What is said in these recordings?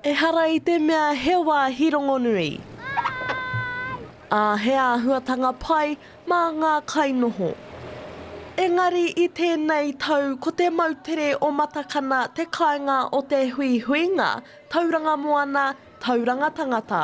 Ehara i te mea he wāhi rongonui. Ā, he āhuatanga pai mā ngā kainoho. Engari i tēnei tau ko te moutere o Matakana te kāinga o te huihuinga Tauranga Moana, Tauranga Tangata.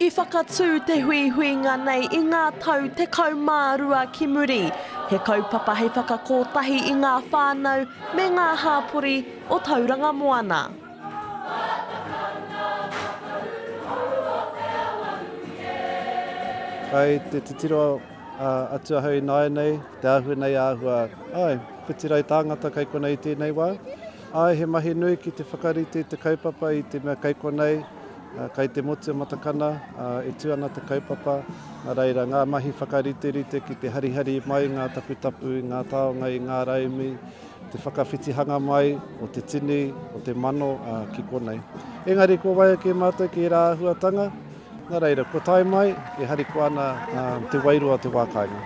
I whakatū te huihuinga nei i ngā tau tekau mā rua ki muri, he kaupapa hei whakakotahi i ngā whānau me ngā hāpori o Tauranga Moana. Kei te titiro atu ahau ināianei, te āhua nei āhua, āe, whiti rau tāngata kei konei i tēnei wā. Āe, he mahi nui ki te whakarite i te kaupapa i te mea kei konei, Kai te motu a Matakana, ā, e tū ana te kaupapa, nā reira ngā mahi whakariterite ki te harihari mai ngā taputapu i ngā taonga, i ngā raimi, te whakawhitihanga mai o te tini, o te mano, ā, ki konei. Engari kua waia kē mātou ki ērā āhuatanga, nā reira, kua tae mai e harikoa ana te wairua o te wā kāinga. E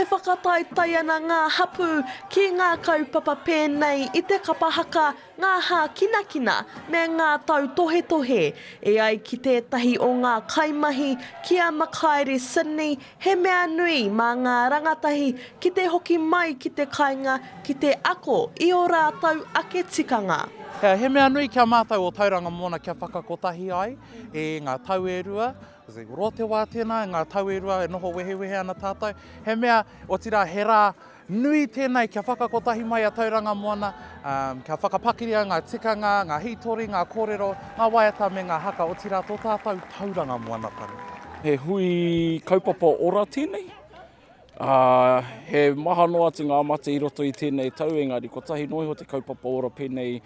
whakataetae ana ngā hapū ki ngā kaupapa pēnei i te kapa haka, ngā hākinakina me ngā tautohetohe e ai ki tētahi o ngā kaimahi, ki a Makaere Sydney, he mea nui mā ngā rangatahi ki te hoki mai ki te kainga ki te ako i ō rātou ake tikanga. He mea nui ki a mātou ō Tauranga Moana kia whakakotahi ai e ngā tau e rua, i roto te wā tēnā, ngā tau e rua e noho wehewehe ana tātou, he mea, otirā he rā Nui tēnei kia whakakotahi mai a Tauranga Moana, kia whakapakiria ngā tikanga, ngā hītori, ngā kōrero, ngā waiata me ngā haka, otirā tō tātou Tauranga Moanatanga. He hui kaupapa ora tēnei, he maha noa atu ngā mate i roto i tēnei tau, engari kotahi noa iho te kaupapa ora pēnei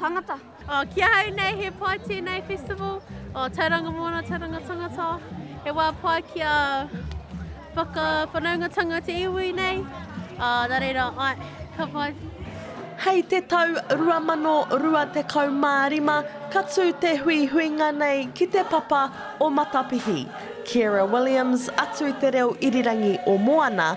Tangata. Oh, ki ahau nei he pai tēnei festival, oh, Tauranga Moana, Tauranga Tangata. He wā pai ki a whakawhanaungatanga te iwi nei. Uh, nā reira, ai, ka pai. Hei te tau 2025 ka tū te huihuinga nei ki Te Papa o Matapihi. Ciara Williams, atu i te reo irirangi o Moana,